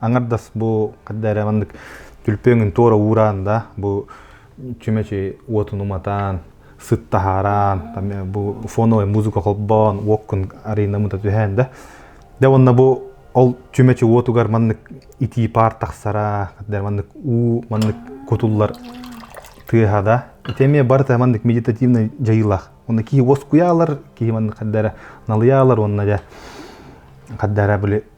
Аңардас бу хадда эрэ маннык түлпүөҥүн туора уураан да бу чүмэчи уотун уматаан сыттаһараан бу фоновая музыка холбоон уоккун арена мыта түһээн да да уонна бу ол чүмэчи уотугар маннык итии паар тахсара маннык уу маннык кутуллар тыаһа да ити эмиэ барыта маннык медитативный дьайыылаах уонна киһи уоскуйаалар киһи маннык хаддара налыйаалар уонна дьэ хаддара били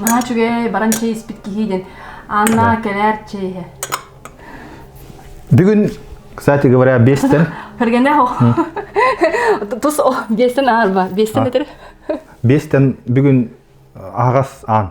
наһаа үчүгэй баран чэй испит киһи диэн Анна кэлээр чэй иһэ бүгүн кстати говоря бестен Хергене о тус о бестен аарба бестен этер бестен бүгүн аһагас аан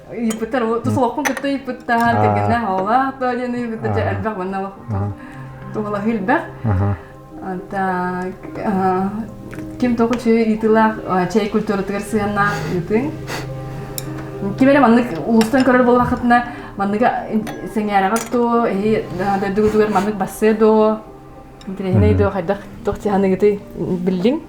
ыйыппыттар тусуохпун кытта ыйыппыттар кэргэнэ оҕолоох да диэн ыйыппыттар дьэ элбэх манна туһалаһыы элбэх ким тоҕо үчүгэй ыйытыылаах чэй культуратыгар сыһыаннаах ыытыҥ ким эрэ маннык улуустан көрөр буоллаххытына манныгы сэҥээрэҕит доо эһи дойдугутугар маннык бассыа доо интириэһинэй доо хайдах туох сыһаныгытый биллиҥ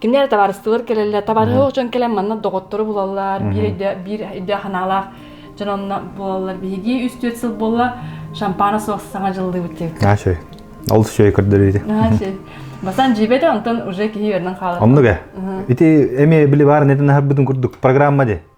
Кинилэр табаарыстыбылар кэлэллэр, табаарыһылық дьон кэлэн манна доҕоттору булаллар, биир өйдөөх, биир өйдөөх санаалаах дьон онно булаллар. Биһиги 3-4 сыл буолла шампана суох саҥа дьыллыыбыт дебит. А шөй. Ол шөй көрдөрүүдэ. А шөй. Бастан жибеде, онтон уже киһи өрнөн хаалар. Оннуга. Ити эми били баар неден ахырбытын курдук программа де.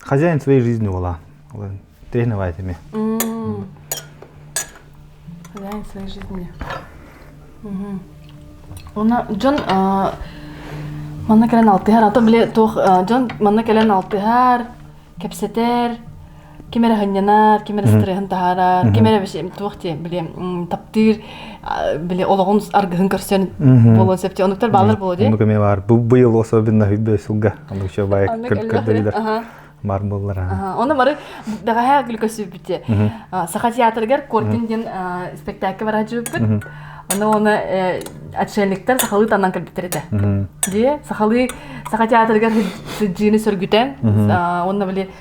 хозяин своей жизни была. Тренировать ими. Хозяин своей жизни. Уна дьон манна кэлэн алтыһар ата биле туох дьон манна кэлэн алтыһар кэпсэтэр ким эрэ ханньанар ким эрэ стресsin таһаарар ким эрэ туох диye биле таптыыр били олоҕун аргыһын көрсөн буолуон сөптө онуктар баалар буолуо диye оннук эмиэ баар быйыл особенно үрдө сылга оннук еще бай көрдөрүлөр бар боллар оны бары бэҕэһээ глюкосүбүтэ саха театрыгар коркин диэн спектакль бара жүрбүт аны оны отшельниктар сахалыы таннан кэлбиттэр этэ дии сахалыы саха театрыгар сыддыыны сөргүтэн онно били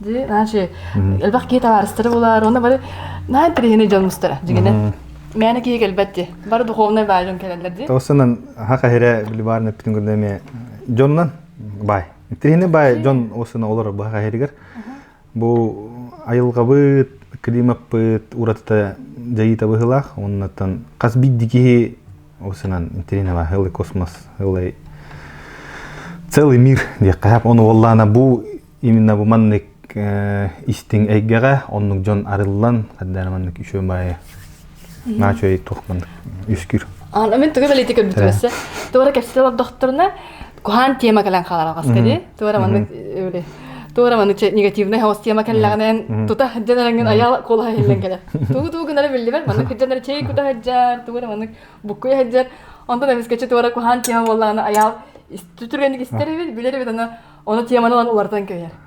дии значит элбэх киһи табаарыстары булаар уонна бары наһаа интэриэһинэй дьон мустара дьигинэ мээнэ киһи кэлбэт ди бары духовнай баай дьон кэлэллэр ди тоссынан хак эһире билибаарны бүтүн көрдө эме дьоннан бай интэриэһинэй бай дьон осына олор бу хак эһиригер бу айылгабыт климаппыт уратыта дьайыта быһылаах оннаттан хас бидди киһи Ол санаан Тринова Ылы космос, Ылы целый мир диэххэ Оны уоллаана бу именно бу маннык истиҥ эйгэҕэ оннук дьон арыллан хаддаана маннык үчүө баайы наачой туох маннык үскүр. Аны мен тугу бэлити көрбүтүмэссе. Туора кэпсетэ олордохторуна куһаан тема кэлэн хааларҕас кэри туора маннык үри туора маннык негативный хаос тема кэллэҕинэн тута сылдьан эрengin аял кула хиллен келе тугу тугу гынары биллибер маннык хыджанар чей кута хыджар туора маннык буккуй хыджар онтон эмискечи туора куһаан тема буоллаҕына аял сүтүргэнник истэрибит билэрибит аны оны теманы ылан улартан көйөр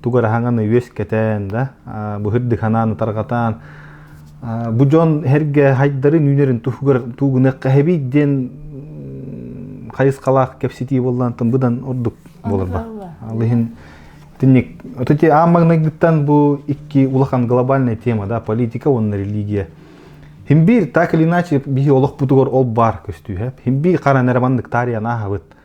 тугу эрэ хаҥаны үөскэтэн да быһырдыханаан утарҕатаан бу дьон эргэ хайдарын үүнэрин тугунакка эһэбий диэн хайысхалаах кэпситии буоллантан быдан ордук буоларба алыһын тинник вот эти аан магнайгыттан бу икки улахан глобальная тема да политика уонна религия химбир так или иначе биһи олох бутугар ол баар көстүүһэ химбир хара нәре маннык таарыйан аахабыт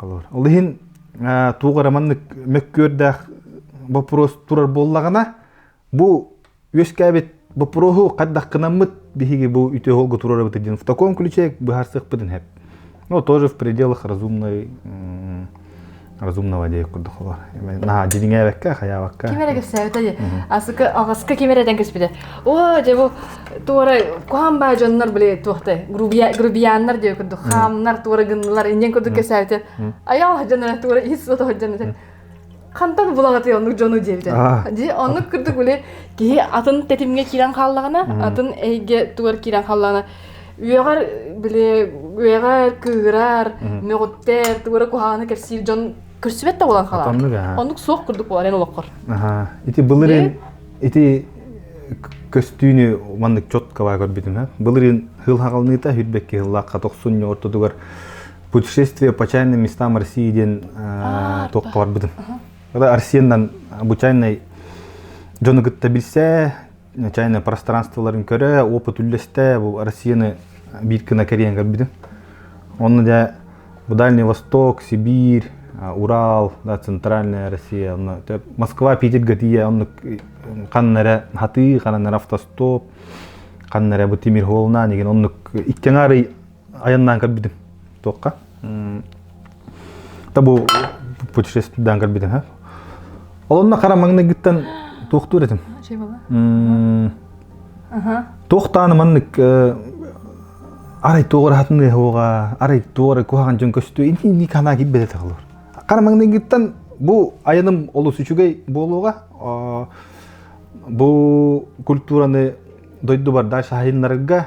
Ол иһин туох эрэ маннык мөккүөрдээх боппуруос турар буоллаҕына, бу үөскээбит боппуруоһу хардахкынаммыт биһиги бу үтүө холго туруорабыт диэн в таком ключе быһаарсыахпытын сөп. Ну, тоже в пределах разумной разумного дей курдухоло. Наһаа дьиҥээбэккэ, хайаабакка. Ким эрэ кэпсээбитэ дии. Асыка аҕаска ким эрэ дэн көспүтэ. Оо, дьэ бу туора куһан баа дьоннор били туохтай грубияннар диэ курдук хаамнар туора гыннылар иннен курдук кэсээтэ аял саһдьанна туора ис сото саһдьанна хантан булаҕатый оннук дьону диэбитэ ди оннук курдук били киһи атын тэтимге киирэн хааллаҕына атын эйге тугар киирэн хааллаҕына үөҕэр били үөҕэр кыырар мөҕүттэр туора куһааны кэрсиир дьон көрсүбэт да болан хаалар оннук суох курдук болар эн олоххор ити былырын Ити көстүүнү маннык четкова көрбүтүм. Былырын хыл хагалныыта хүрбекки хыллаахха тохсун ортотугар путешествие по чайным местам России диэн токка барбытым. Арсеннан бу чайный дьону кытта билсе, чайное пространстволарын көрө, опыт үллэстэ, бу Россияны биир кына кэриэн көрбүтүм. Онно да Дальний Восток, Сибирь, Урал, да, Центральная Россия, Москва, Питер Готия, оннук ханна эрэ хатыы, ханна эрэ автостоп, ханна эрэ бу тимир холлна деген оннук иккиңаары айаннаан көрбүтүм. Туохха? Табу путешествиеден көрбүтүм, ха? Олонна қарамаңна гіттен туохтур етім? Ше бола? Тоқтаны маннык арай туох ырахатын ыаһыга арай туох ыры куһаҕан дьон көстүө интиний кана кипбете тахалыр карамаңныгыттан бу айаным олус үчүгэй буолуога бу культураны дойду барда шаһайыннарга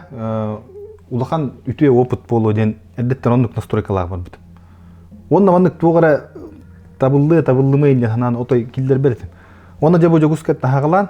улахан үтүө опыт буолуо диэн эрдеттен оннук настройкалаах барбытым онна маннык туох эрэ табыллы табыллымы инде санаан отой киллер беретим онна жабу жогускет нахагалан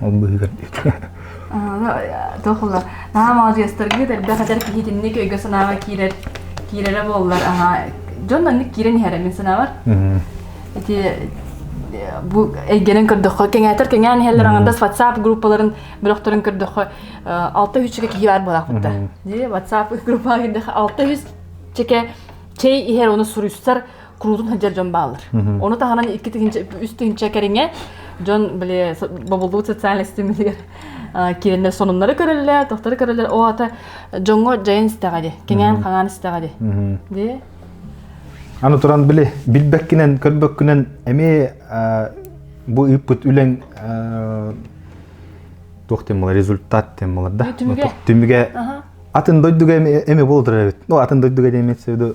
ол быыһыгар туох ыла наһаа маладьыастаргыт элбэх этэр киһитинник өйгө-санааҕа киирэр киирэрэ буоллар аһа дьон маннык киирэн иһэрэ мин санаабар ити бу эйгэнэн көрдөххө кэҥээтэр кэҥээн иһэллэр ангардас ватсап группаларын бөлөхтөрүн көрдөххө алта үһүччэкэ киһи баар буолаахпыта ватсап группаҕа киирдэхэ алта үһүс чэкэ чэй иһэр оны суруйсар куруутун сылдьар дьон бааллар. Ону таһынан икки тыһыынча, үс тыһыынча кэриҥэ дьон били бобуллубут социальнай ситимилигэр киирэннэр сонуннары көрөллөр, тохтары көрөллөр. О ата дьоҥҥо дьайын истэҕэ ди, кэҥээн хаҥаан истэҕэ ди. Ди. Аны туран били билбэккинэн, көрбөккүнэн эми бу үппүт үлэң туох тем болар результат тем болар да түмүгэ атын дойдуга эме болдур эбит ну атын дойдуга эмет сөбү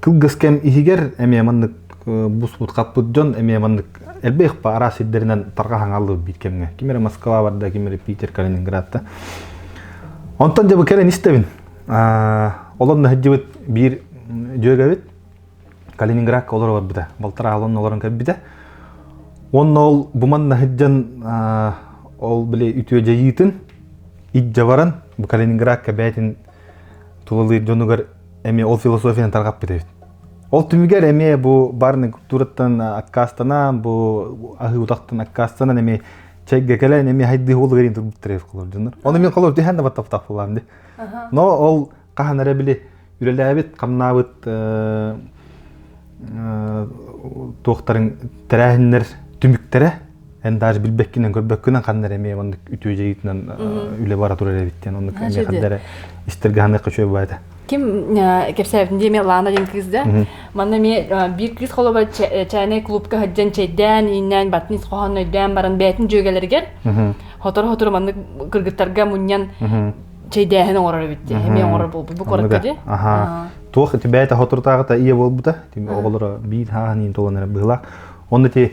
кылгыс кэм иһигэр эмиэ маннык бусбут хаппыт дьон эмиэ маннык элбэх араас сирдэринэн тарҕаһаҥаллыбыт биит кэмҥэ ким эрэ москва барда ким эрэ питер калининградта онтон дьабы кэлэн истэбин олон наһыддьыбыт биир дьүөгэбит калининградка олоро барбыта балтар аалын олорон кэлбитэ уонна ол буман наһыддьан ол били үтүөдьэйиитин ит баран бу калининградка бээтин тулалыыр дьонугар эмиэ ол философияны тарҕаппыт эбит ол түмүгэр эмиэ бу барный культураттан аккаастанан бу аһыы утахтан аккаастанан эмиэ чэйгэ кэлэн эмиэ хайдыы ол гарын турбуттар эбит дьоннор оны мин холор дэһэн да баттаптахтылам ди но ол хаһан эрэ били үлэлээбит хамнаабыт туохтарын тэрээһиннэр түмүктэрэ эн даже билбеккинен көрбөккүнэн ханна эрэ эмиэ оннук үтүө дьайыытынан үлэ бара турар эбит диэн оннук эмиэ ханна эрэ истэргэ ханыахха үчүгэй баайда ким кэпсээбитин диэ эмиэ Лана деген кыыс да манна эмиэ биир кыыс холобура чайнай клубка сылдьан чэйдээн ииннээн батын ис хоһоон өйдөөн баран бэйэтин дьүөгэлэригэр хоторо-хоторо маннык кыргыттарга мунньан чэйдээһин оҥорор эбит диэ эмиэ оҥорор буолбут бу куоракка дии аха туох бэйэтэ хоторутааҕыта ийэ буолбута оҕолоро биир хааһын иин толон эрэ быһылаах онно ти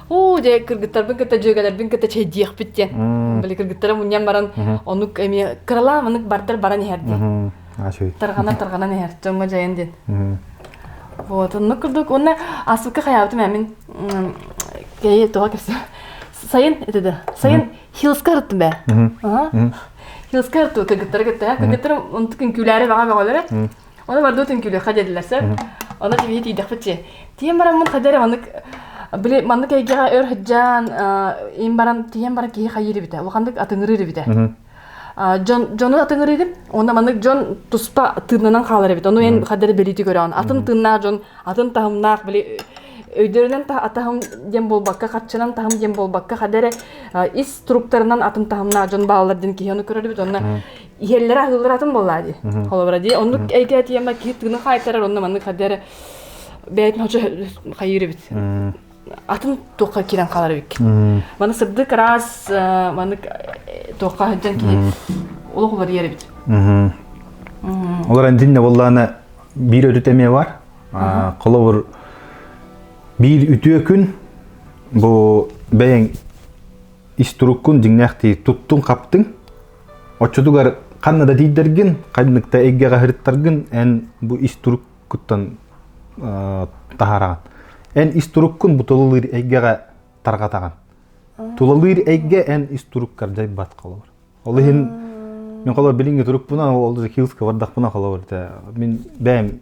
уу дьэ кыргыттарбын кытта дьүөгэлэрбин кытта чэйдиэхпит диэн били кыргыттара мунньан баран оннук эмиэ кыралаан маннык бардар баран иһэр диэн тарҕанан тарҕанан иһэр дьоҥҥо дьайан диэн вот оннук курдук уонна ааспыкка хайаабытым эмин кэйи тоҕо кэпсэ сайын это да сайын хилска ырыттым бэ хилска ырту кыргыттара кытта кыргыттара онтук үҥкүүлээри баҕа бөҕөлөрө Оны бардытын күлөха дедилесе. Оны тибиһи тийдехпит чи. Тиен бараммын хадер маннык били маннык эйгеҕэ өр хыджаан ин баран тиен баран киһи хайыры битэ. Улаханнык атыңырыры битэ. Дьону атыңырыгын, онна маннык дьон туспа тыыннанан хаалар эбит. Ону эн хадер белити көрөөн. Атын тыннаах дьон, атын таһымнаах били өйдөрүнэн атаһым диэн болбакка, харчынан таһым диэн болбакка, хадере ис структурынан атын таһымнаах дьон баалар диэн киһи оны көрөр бит. Онна иһэллэрэ аһыыллара атын буоллаа дии холобура дии оннук эйгэ тиэмэ киһи тыына хаайтарар онно маннык хадыары бэйэтин хочо хайыыр эбит атын туохха киирэн хаалар эбиккит маны сырдык раз маннык туохха сылдьан киһи олох уларыйар эбит олор андинне боллаана биир өтүт эмиэ бар холобур биир үтүө күн бу бэйэң истуруккун дьиҥнээхтии туттуҥ-хаптыҥ оччотугар ханна да тиийдэргин ханнык да эйгэҕэ сырыттаргын эн бу истуруккуттан таһаараҕын эн истуруккун буталылыыр эйгэҕэ тарҕатаҕын тулалыыр эйгэ эн истуруккар дьайбат холобур ол иһин мен холобур билиҥҥи турукпунан ол Киевского бардахпына холобур мин бэйэм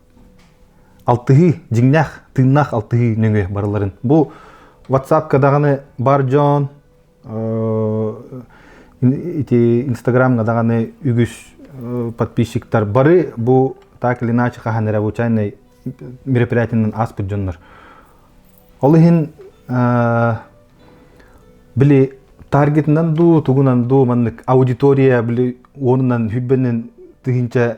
алтыһыы дьиҥнээх тыыннаах алтыһыы нөҥүө барыларын бу ватсапка даҕаны бар дьон ити инстаграмҥа даҕаны үгүс подписчиктар бары бу так или иначе хаһан эрэ случайнай мероприятиеннан ааспыт дьоннор ол иһин били таргетынан дуу тугунан дуу маннык аудитория били уонунан хүрбэннен тыһынча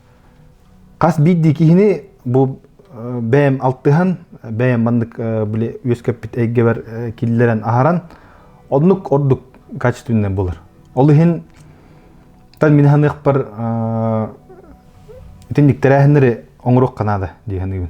хас биирдии киһини бу бэйэм алтыһан бэйэм маннык били үөскэппит эйгэбэр киллэрэн аһаран оннук ордук качественнай болар ол иһин тан мин ханыахпар итинник тэрээһиннэри оҥоруох канада дии саныыбын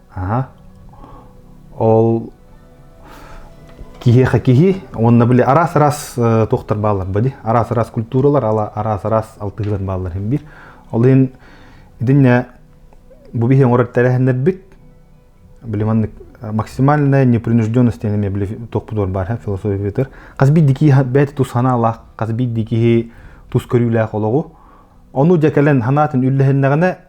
ол киһиэхэ киһи уонна били араас-араас туохтар бааллар бади араас-араас культуралар араас-араас алтыһыылар бааллар хим биир ол иһин итиннэ бу биһи оҥорор тэрээһиннэрбит били маннык максимальная непринужденность эми били тохпутуор бар философия битер хас бир дикий бэти тус ханаалаах хас бир дикий тус көрүүлээх олоҕу ону дьэ кэлэн ханаатын үллэһиннэҕинэ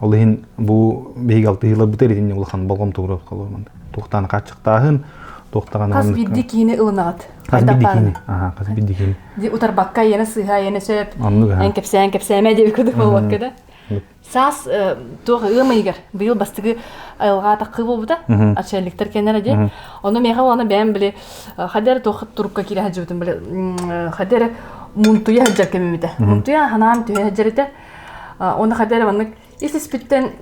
Ол иһин бу биһиги алтыһыыларбытыгар итиннэ улахан болҕомтоҕо холормон туохтаан хааччахтааһын туохтаҕан хас биирдии киһини ылынаҕыт хас биирдии киһини аха хас биирдии киһини утарбакка иэнэ сыыһа иэнэ сөп эн кэпсээн кэпсээмэ диэбит курдук болуокка да саас туох ыам ыйыгар быйыл бастыгы айылҕа атакка буолбута отчальниктар кеннера де ону меха уана бэйэм били хадэр туох турукка киирэ сылдьыбытым били хадэр мунтуя сылдьар кэмимите мунтуя ханаан түһэ сылдьарыта Оны хадер маннык ис-испиттен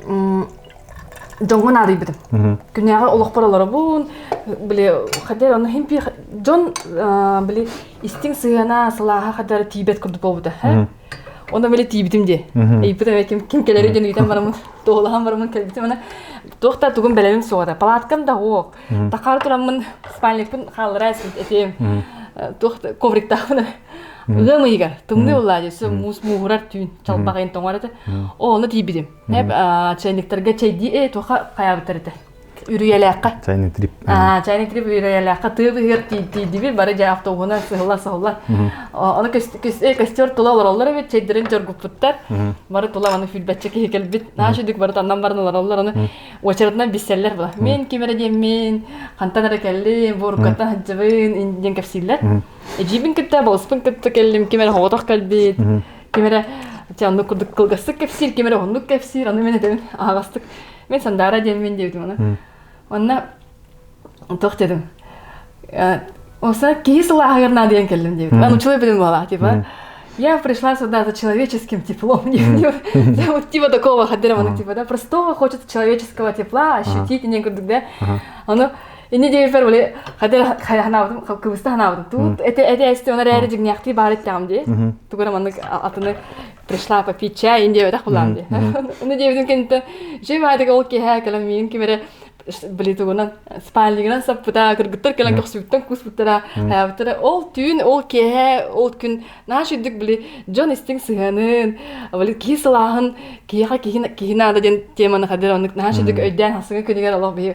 дьоҥҥун аадыйбытым. Күнээҕи олохпор олоробун, били хадер ону химпи дьон били истиҥ сыһыана сылааха хадер тиийбэт курдук буолбута. Оны били тиийбитим дии. Ыйбытым ким ким кэлэри диэн ыйтан барамын, туолахан барамын кэлбитим ана туох да тугун бэлэбим суоҕа. Палаткам да уок. Такаар тураммын спальникпын хааллара этиэм. Туох ковриктаахпын Ыам ыйыгар тымныы улаа диэс муус мууһурар түүн чалбаҕайын тоҥор этэ. Ону тиийбитим. Эп чайниктарга чайдии ээ туха хайабыттар этэ. Үрүйэлээххэ. Чайный трип. Аа, чайный трип үрүйэлээххэ тыа быһыар тиийдибит бары дьэ автобуһунан сыһылла-сыһылла. Ону костер тула олороллор эбит, чайдарын дьоргуппуттар. Бары тула аны фильбэтчэ киһи кэлбит. Нааша дүк бары таннан барын олороллор аны очередынан биссэллэр была. Мен кимере диэммин, хантан эрэ кэллим, буоруккаттан хадьыбын, индиэн кэпсииллэр. Эдьиийбин кытта, босспун кытта кэллим, ким эрэ хоботох кэлбит, ким эрэ ти оннук курдук кылгастык кэпсиир, ким эрэ уһуннук кэпсиир, аны мин этэбин аһаҕастык. Мин Сандаара диэн мин диэбитим аны. Онно тоқ дедим. Осо киһи сылааһыгар наадыйан кэллим диэбит. Мен учила беден была, типа. Я пришла сюда за человеческим теплом. Вот типа такого, хадером, типа, да, простого, хочет человеческого тепла ощутить, не курдук, да. Оно Инни девиттер были хотя ханабытым кыбыста ханабытым тут это это эсте он эрээри дьиҥнээхтии баар эттэҕим дии тугура маннык атыны пришла попить чай ин диэбэтэх булаам дии аны диэбитин кэнниттэн жевадик ол киэһэ кэлэн миин кимере блитугунан спальнигынан саппыта кыргыттар кэлэн көхсүбүттэн кууспуттара хайабыттара ол түүн ол киэһэ ол күн наш үрдүк били дьон истиҥ сыһыанын били киһи сылааһын киһиэхэ киһи киһи наада диэн теманы хадыр оннук наш үрдүк өйдөөн хасыҥа күнүгэр олох биһи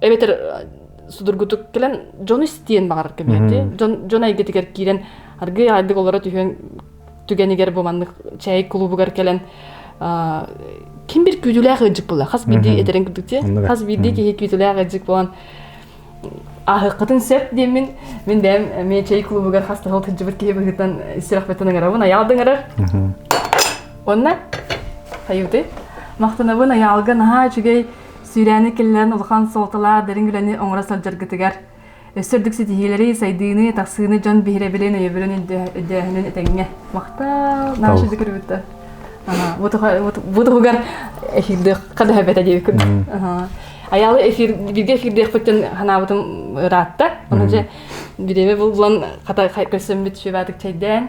эбэтэр судургутук кэлэн дьону истиэн баҕарар көмүөтү дьон дьон эйгэтигэр киирэн аргыый аайдык олоро түһүөн түгэнигэр бу маннык чэй кулубугар кэлэн ким бир күүтүүлээх ыйдьык була хас биирдии этэрин курдук те хас биирдии киһи күүтүүлээх ыйдьык буолан ааһыаххытын сөп диэммин мин бэйэм эмиэ чэй клубугар хас тахал кырдьыбыт киһи быһыытынан сүрэхпиттэн ыҥарабын аялдыңарар онно хайыты махтанабын аялга наһаа үчүгэй Сүүрээни киллэрэн улахан суолталаах дириҥ үлэни оҥоро сылдьаргытыгар, өссө үрдүк ситиһиилэри, сайдыыны, тахсыыны дьон биһирэбилин, өйөбүлүн өйдөөһүнүн этэҥҥэ. Махтал! Наһаа үчүгэй көрүбүттэр. Бу туһугар эфирдыахха да эбэтэ диэбиккин. Аялы эфир бирге эфирдиэхпит дьон санаабытым ыраатта. Ону дьэ бириэмэ буллан хата көрсөммүт шүбатык чэйдээн